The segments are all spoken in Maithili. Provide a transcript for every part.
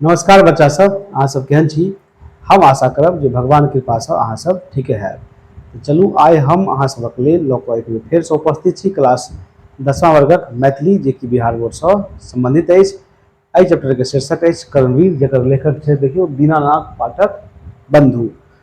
नमस्कार बच्चा सब अहाँ सब केहन छी हम आशा करब जे भगवान कृपासँ अहाँ सब ठीके हैब तऽ चलू आइ हम अहाँ सबक लेल लऽ कऽ एक बेर फेरसँ उपस्थित छी क्लास दसमा वर्गक मैथिली जे कि बिहार बोर्डसँ सम्बन्धित अछि एहि चैप्टरके शीर्षक अछि कर्मवीर जकर लेखक छै देखियौ दीनानाथ पाठक बन्धु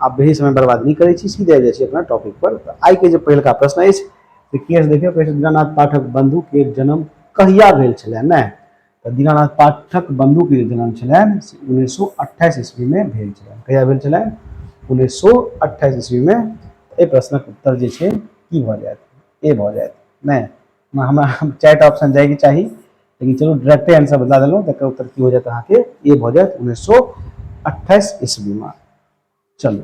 आब बेसी समय बर्बाद नहि करै छी सीधे आबि जाइ छी अपना टॉपिक पर तऽ आइ के जे पहिलका प्रश्न अछि से की अछि देखियौ दीनानाथ पाठक बंधु के जन्म कहिया भेल छलै ने तऽ दीनानाथ पाठक बंधु के जे जन्म छलनि से उन्नैस सौ अट्ठाइस ईस्वी मे भेल छलनि कहिया भेल छलनि उन्नैस सौ अट्ठाइस ईस्वी मे एहि प्रश्नक उत्तर जे छै की भऽ जायत ए भऽ जायत नहि हमरा चारि टा ऑप्शन जाएके चाही लेकिन चलू डायरेक्टे आंसर बता देलहुँ तकर उत्तर की हो जायत अहाँके ए भऽ जायत उन्नैस सए अट्ठाइस ईस्वीमे चलू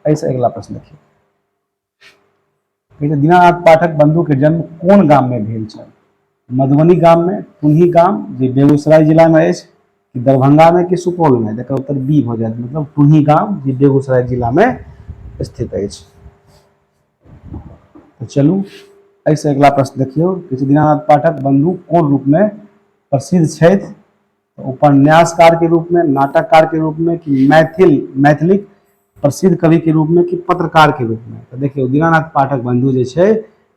एहिसँ अगिला प्रश्न देखियौ कहै दीनानाथ पाठक बंधुके जन्म कोन गाममे भेल छल मधुबनी गाममे पुनही गाम जे बेगूसराय जिलामे अछि कि दरभंगामे कि सुपौलमे तकर उत्तर बी भऽ जायत मतलब पुनही गाम जे बेगूसराय जिलामे स्थित अछि तऽ चलू एहिसँ अगिला प्रश्न देखियौ कि दीनानाथ पाठक बन्धु कोन रूपमे प्रसिद्ध छथि उपन्यासकारके रूपमे नाटककारके रूपमे कि मैथिल मैथिलीक प्रसिद्ध कविके रूपमे कि पत्रकारके रूपमे तऽ देखियौ दीनानाथ पाठक बन्धु जे छै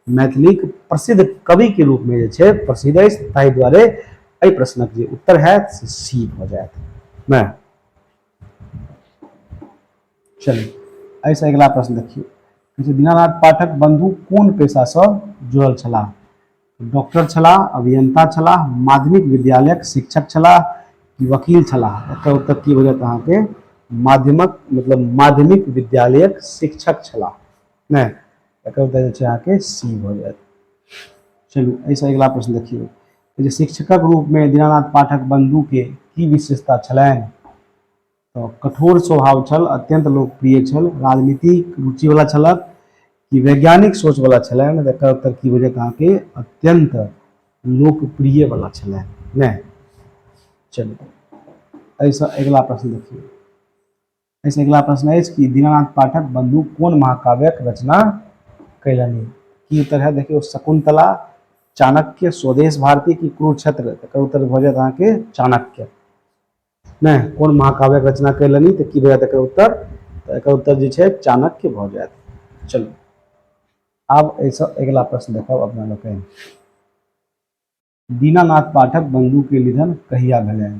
मैथिलीक प्रसिद्ध कविके रूपमे जे छै प्रसिद्ध अछि ताहि दुआरे एहि प्रश्नक जे उत्तर हैत से सी भऽ जायत नहि चलू एहिसँ अगिला प्रश्न देखियौ कहै छै दीनानाथ पाठक बन्धु कोन पेशासँ जुड़ल छलाह डॉक्टर छलाह अभियंता छलाह माध्यमिक विद्यालयक शिक्षक छलाह कि वकील छलाह एकर उत्तर की हो जायत अहाँके माध्यमक मतलब माध्यमिक विद्यालयक शिक्षक छलाह नहि एकर उत्तर जे छै अहाँके सी भऽ जायत चलू एहिसँ अगिला प्रश्न देखियौ जे शिक्षकक रूपमे दीनानाथ पाठक बन्धुके की विशेषता छलनि तऽ कठोर स्वभाव छल अत्यन्त लोकप्रिय छल राजनीतिक रुचिवला छलए कि वैज्ञानिक सोचवला छलए ने एकर उत्तर की भऽ जायत अहाँके अत्यन्त लोकप्रियवला छलए नहि चलू एहिसँ अगिला प्रश्न देखियौ एहिसँ अगिला प्रश्न अछि कि दीनानाथ पाठक बन्धु कोन महाकाव्यक रचना कयलनि की उत्तर है देखियौ शकुन्तला चाणक्य स्वदेश भारती की कुरुक्षेत्र एकर उत्तर भऽ जायत अहाँके चाणक्य नहि कोन महाकाव्यक रचना कयलनि तऽ की भए जायत एकर उत्तर तऽ एकर उत्तर जे छै चाणक्य भऽ जायत चलू आब एहिसँ अगिला प्रश्न देखब अपना लोकनि दीनानाथ पाठक बंधुके निधन कहिया भेलनि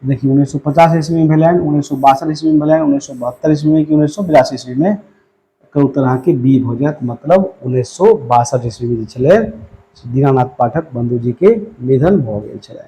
देखिए उन्नैस सए पचास ईस्वीमे भेलनि उन्नैस सए बासठ ईस्वीमे भेलनि उन्नैस सए बहत्तर ईस्वीमे कि उन्नैस सए बिरासी ईस्वीमे एकर उत्तर अहाँके बी भऽ जायत मतलब उन्नैस सए बासठ ईस्वीमे जे छलै दीनानाथ पाठक बंधुजीके निधन भऽ गेल छलै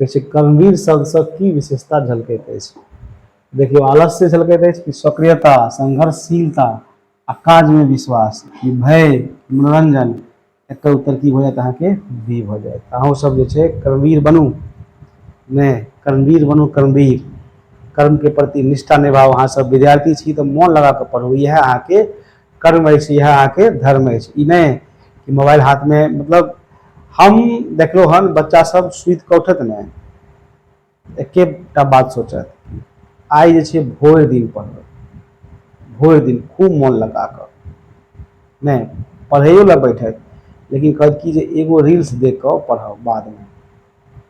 कहै छै कर्मवीर शब्दसँ की विशेषता झलकैत अछि देखियौ आलस्य झलकैत अछि कि सक्रियता संघर्षशीलता आ काजमे विश्वास कि भय मनोरञ्जन एकर उत्तर की भऽ जायत अहाँके बी भऽ जायत अहूँ सब जे छै कर्मवीर बनू नहि कर्मवीर बनू कर्मवीर कर्मके प्रति निष्ठा निभाउ अहाँसभ विद्यार्थी छी तऽ मोन लगा कऽ पढ़ू इएह अहाँके कर्म अछि इएह अहाँके धर्म अछि ई नहि कि मोबाइल हाथमे मतलब हम देखलहुँ हन बच्चा सब सुति कऽ उठत ने एकेटा बात सोचत आइ जे छै भरि दिन पढ़बै भरि दिन खूब मोन लगा कऽ नहि पढ़ैयो लए बैठत लेकिन कहत कि जे एगो रील्स देख कऽ पढ़ब बादमे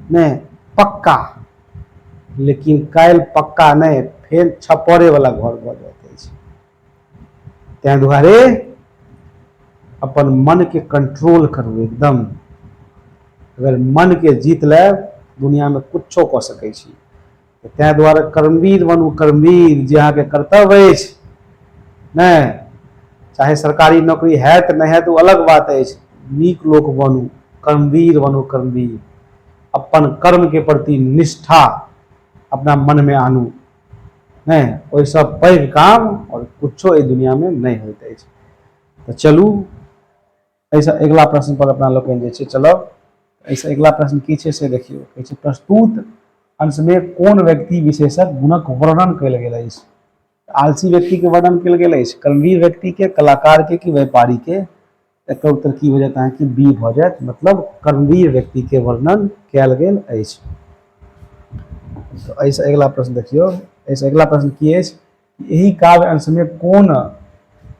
नहि पक्का लेकिन काल्हि पक्का नहि फेर छपरेवला घर भऽ जाइत अछि ताहि दुआरे अपन मनके कंट्रोल करू एकदम अगर मनके जीत लेब दुनियामे कुछो कऽ सकै छी ताहि दुआरे कर्मवीर बनू कर्मवीर जे अहाँके कर्तव्य अछि नहि चाहे सरकारी नौकरी हैत नहि हैत ओ अलग बात अछि नीक लोक बनू कर्मवीर बनू कर्मवीर अपन कर्मके प्रति निष्ठा अपना मनमे आनू नहि ओहिसँ पैघ काम आओर किछो एहि दुनिआँमे नहि होइत अछि तऽ चलू एहिसँ अगिला प्रश्न पर अपना लोकनि जे छै चलब एहिसँ अगिला प्रश्न की छै से देखियौ कहै छै प्रस्तुत अंशमे कोन व्यक्ति विशेषक गुणक वर्णन कयल गेल अछि आलसी व्यक्तिके वर्णन कयल गेल अछि कर्मवीर व्यक्तिके कलाकारके कि व्यापारीके एकर उत्तर की भऽ जायत अहाँके बी भऽ जायत मतलब कर्मवीर व्यक्तिके वर्णन कयल गेल अछि एहिसँ अगिला प्रश्न देखियौ एहिसँ अगिला प्रश्न की अछि एहि काव्य अंशमे कोन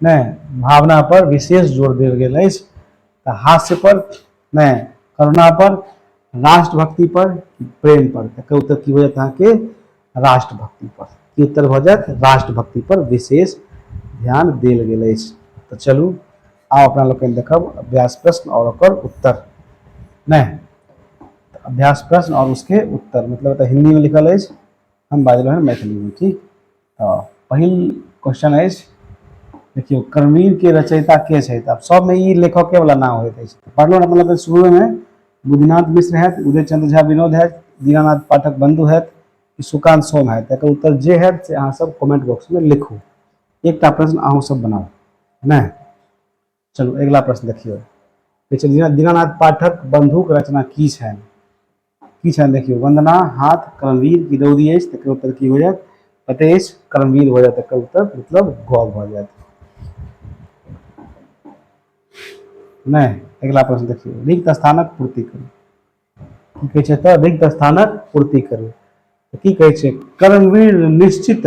नहि भावना पर विशेष जोर देल गेल अछि तऽ हास्य पर नहि करुणा पर राष्ट्रभक्ति पर प्रेम पर एकर उत्तर की हो जायत अहाँके राष्ट्रभक्ति पर की उत्तर भऽ जायत राष्ट्रभक्ति पर विशेष ध्यान देल गेल अछि तऽ चलू आब अपना लोकनि देखब अभ्यास प्रश्न और ओकर उत्तर नहि अभ्यास प्रश्न और उसके उत्तर मतलब हिंदी में लिखल अछि हम बाजि रहल मैथिलीमे ठीक तऽ पहिल क्वेश्चन अछि देखियौ कर्मवीर के रचयिता के छै तऽ सबमे ई लेखके वाला नाम होइत अछि पढ़लहुँ ने मतलब शुरूमे बुद्धनाथ मिश्र हैत उदय चंद्र झा विनोद हैत दीनानाथ पाठक बंधु हैत कि सुकांत सोम हैत तकर उत्तर जे हैत से अहाँ सब कमेंट बॉक्समे लिखू एकटा प्रश्न अहूँ सब बनाउ है ने चलू अगिला प्रश्न देखियौ कहै छै दीना दीनानाथ पाठक बंधुक रचना की छनि की छनि देखियौ वंदना हाथ कर्मवीर की रौदी अछि तकर उत्तर की हो जायत पते अछि कर्मवीर हो जायत तकर उत्तर मतलब ग भऽ जायत नहि अगिला प्रश्न देखियौ रिक्त स्थानक पूर्ति करू की कहै छै तऽ रिक्त स्थानक पूर्ति करू की कहै छै कर्मवीर निश्चित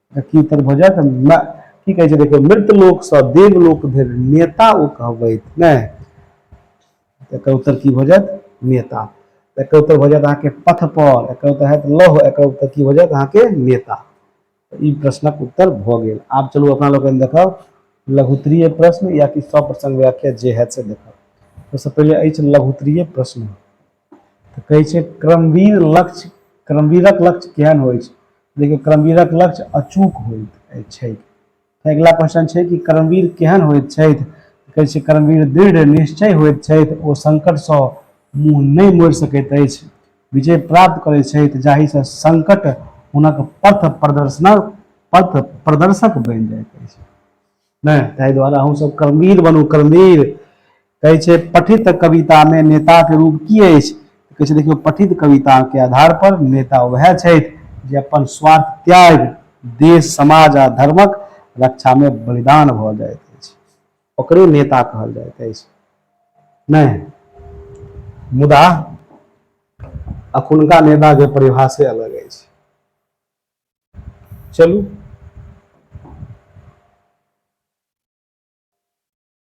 की तर भऽ जायत की कहै छै देखियौ मृत लोकसँ देव लोक धरि नेता ओ कहबैत नहि एकर उत्तर की भऽ जायत नेता एकर उत्तर भऽ जायत अहाँके पथ पर एकर उत्तर हयत लौह एकर उत्तर की भऽ जायत अहाँके नेता ई प्रश्नक उत्तर भऽ गेल आब चलू अपना लोकनि देखब लघुत्तरीय प्रश्न या कि सप्रसंग व्याख्या जे हयत से देखब सबसँ पहिले अछि लघुत्तरीय प्रश्न तऽ कहै छै क्रमवीर लक्ष्य क्रमवीरक लक्ष्य केहन होइ छै लेकिन क्रमवीरक लक्ष्य अचूक होइत छै अगिला प्रश्न छै कि कर्मवीर केहन होइत छथि कहै छै कर्मवीर दृढ़ निश्चय होइत छथि ओ संकटसँ मुँह नहि मोड़ि सकैत अछि विजय प्राप्त करैत छथि जाहिसँ संकट हुनक पथ प्रदर्शनक पथ प्रदर्शक बनि जाइत अछि नहि ताहि दुआरे अहूँ सब कर्मवीर बनू कर्मवीर कहै छै पठित कवितामे नेताके रूप की अछि कहै छै देखियौ पठित कविताके आधार पर नेता वएह छथि जे अपन स्वार्थ त्याग देश समाज आ धर्मक रक्षामे बलिदान भऽ जाइत अछि ओकरे नेता कहल जाइत अछि नहि मुदा अखुनका नेताके परिभाषे अलग अछि चलू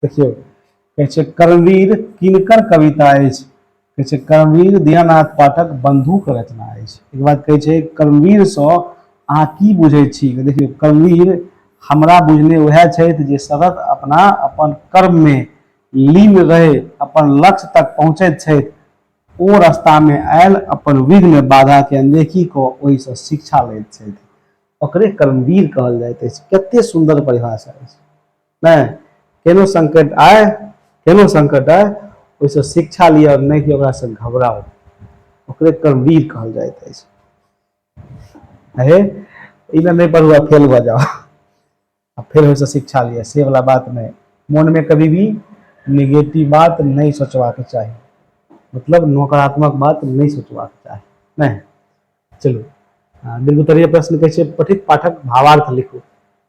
देखियौ कहै छै कर्मवीर किनकर कविता अछि कहै छै कर्मवीर दयानाथ पाठक बंधुक रचना अछि एक बात कहै छै कर्मवीर से अहाँ की बुझे छी देखियौ कर्मवीर हमरा बुझने वह छथि जे सतत अपना अपन कर्म में लीन रहे अपन लक्ष्य तक पहुँचैत छथि ओ रस्तामे आयल अपन विघ्न बाधाके अनदेखी कऽ ओहिसँ शिक्षा लैत छथि ओकरे कर्मवीर कहल जाइत अछि कतेक सुन्दर परिभाषा अछि नहि केनो संकट आय केनो संकट आय ओहिसँ शिक्षा लिअ नहि कि ओकरासँ घबराउ ओकरे कर्मवीर कहल जाइत अछि अहे ई नहि पढ़ुआ फेल भऽ जाओ आ फेर ओहिसँ शिक्षा लिअ से वला बात नहि मोनमे कभी भी निगेटिव बात नहि सोचबाक चाही मतलब नकारात्मक बात नहि सोचबाक चाही नहि चलू बिल्कुल प्रश्न कहै छै पठित पाठक भावार्थ लिखू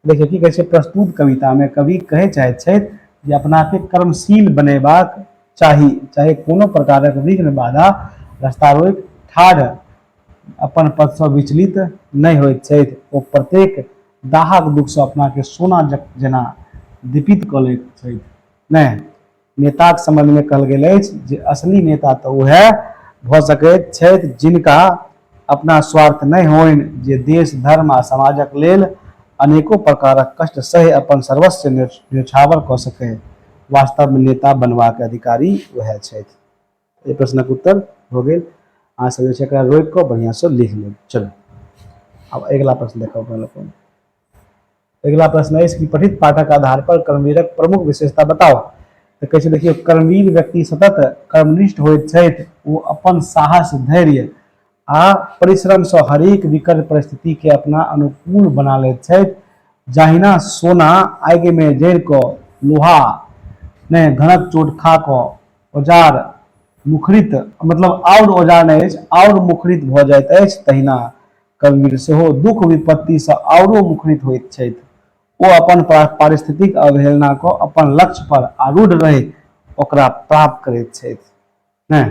देखियौ की कहै छै प्रस्तुत कवितामे कवि कहै चाहैत छथि जे अपनाके कर्मशील बनेबाक चाही चाहे कोनो प्रकारक विघ्न बाधा रस्ता रोकि ठाढ़ अपन पथसँ विचलित नहि होइत छथि ओ प्रत्येक दाहक दुखसँ अपनाकेँ सोना जक जेना दीपित कऽ लैत छथि ने नेताक सम्बन्धमे कहल गेल अछि जे असली नेता तऽ उएह भऽ सकैत छथि जिनका अपना स्वार्थ नहि होनि जे देश धर्म आ समाजक लेल अनेको प्रकारक कष्ट सहि अपन सर्वस्व न्योछावर कऽ सकय वास्तवमे नेता बनबाक अधिकारी उएह छथि एहि प्रश्नक उत्तर भऽ गेल अहाँ सब जे छै एकरा रोकि कऽ बढ़िआँ सँ लिख लेब चलू आब अगिला प्रश्न देखब अपना लोग अगिला प्रश्न अछि कि पठित पाठक आधार पर कर्मवीरक प्रमुख विशेषता बताओ तऽ कहै छै देखियौ कर्मवीर व्यक्ति सतत कर्मनिष्ठ होइत छथि ओ अपन साहस धैर्य आ परिश्रमसँ हरेक विकट परिस्थितिके अपना अनुकूल बना लैत छथि जहिना सोना आगिमे जरि कऽ लोहामे घनक चोट खा कऽ औजार मुखरित मतलब आओर औजार नहि अछि आओर मुखरित भऽ जाइत अछि तहिना कबीर सेहो दुख विपत्तिसँ आओरो मुखरित होइत छथि ओ अपन पारिस्थितिक अवहेलनाके अपन लक्ष्य पर आरूढ़ रहैत ओकरा प्राप्त करैत छथि नहि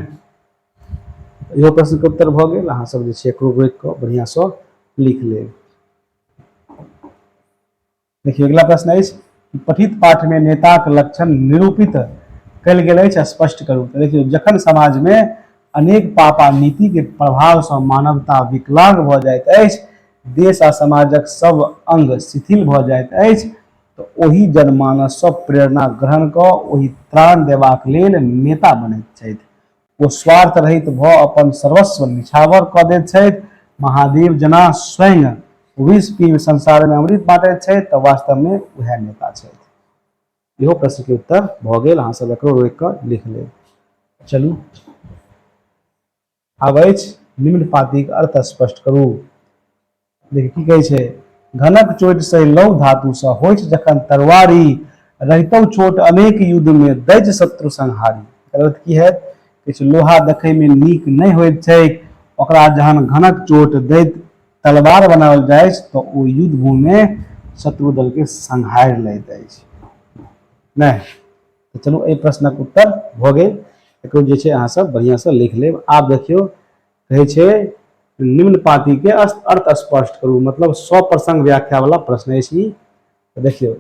इहो प्रश्नके उत्तर भऽ गेल अहाँसभ जे छै एकरो रोकि कऽ बढ़िआँसँ लिख लेब देखिए अगला प्रश्न है पठित पाठ में नेता के लक्षण निरूपित कल गए स्पष्ट करू तो देखिए जखन समाज में अनेक पाप आ नीति के प्रभाव से मानवता विकलांग भ जाए देश आ समाजक सब अंग शिथिल भ जाए तो ओहि जनमानस से प्रेरणा ग्रहण क ओहि त्राण देबाक लेल नेता बने छथि ओ स्वार्थ रहित भऽ अपन सर्वस्व निछावर कऽ दैत छथि महादेव जेना स्वयं विष पीब संसारमे अमृत बाँटैत छथि तऽ वास्तवमे उएह नेता छथि इहो प्रश्नके उत्तर भऽ गेल अहाँसभ एकरो रोकि कऽ लिख लेब चलू आब अछि निम्न पातिक अर्थ स्पष्ट करू देखि की कहै छै घनक चोट से लव धातु से होठ जखन तरवारी रहितौ छोट अनेक युद्ध में दैज शत्रु संहारी एकर अर्थ की हैत किछु लोहा देखै में नीक नहि होइत छै ओकरा जहन घनक चोट दैत तलवार बनाओल जाय तऽ ओ युद्ध भूमि में शत्रु दल के संहार लैत अछि नहि तऽ चलू एहि प्रश्नक उत्तर भऽ गेल एकरो जे छै अहाँ सब बढ़िआँ से लिख लेब आब देखियौ कहै छै निम्न पाती के अर्थ स्पष्ट करू मतलब सौ प्रसंग व्याख्या वाला प्रश्न है सी तो देखियो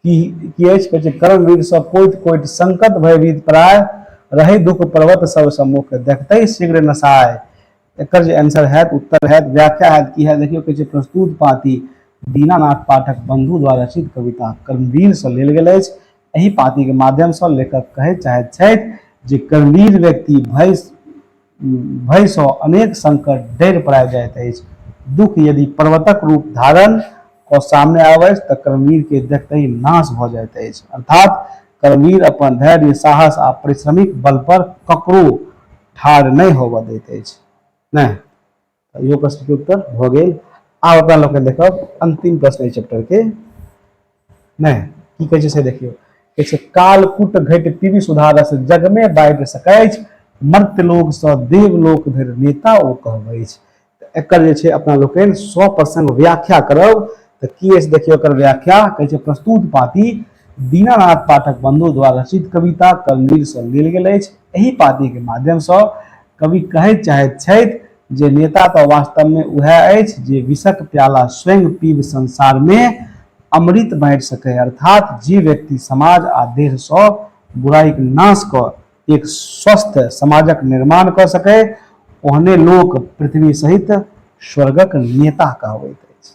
की की अछि कहै छै कर्म विध से कोटि कोटि संकट भयभीत प्राय रहे दुख पर्वत सब सम्मुख देखते शीघ्र नसाय एकर जे आंसर है उत्तर है व्याख्या है की है देखियो कहै छै प्रस्तुत पाती दीनानाथ पाठक बंधु द्वारा रचित कविता कर्मवीर से लेल गेल अछि एहि पाँतिके माध्यमसँ लेखक कहय चाहैत छथि जे कर्मवीर व्यक्ति भय भयसँ अनेक संकट डरि पड़ा जाइत अछि दुख यदि पर्वतक रूप धारण कऽ सामने आबै अछि तऽ कर्मवीरके देखते नाश भऽ जाइत अछि अर्थात कर्मवीर अपन धैर्य साहस आ परिश्रमिक बल पर ककरो ठाढ़ नहि होबऽ दैत अछि नहि इहो प्रश्न के उत्तर भ गेल आब अपना लोग देखब अंतिम प्रश्न एहि चैप्टर के नहीं की कहे से देखियो कहे कालकूट घट पीवी सुधारस जग में बाइट सकैछ मर्त्यलोक से देवलोक धरि नेता ओ कहबै एकर जे छै अपना लोकनि सौ प्रसंग व्याख्या करब तऽ की अछि देखियौ एकर व्याख्या कहै छै प्रस्तुत पाती दीनानाथ पाठक बंधु द्वारा रचित कविता कलमीर से लेल गेल अछि एहि पाती के माध्यम से कवि कहै चाहैत छथि जे नेता तऽ वास्तवमे उएह अछि जे विषक प्याला स्वयं पीब संसारमे अमृत बाँटि सकै अर्थात जे व्यक्ति समाज आ देहसँ बुराइक नाश क एक स्वस्थ समाजक निर्माण क सके ओहने लोक पृथ्वी सहित स्वर्गक नेता कहबैत अछि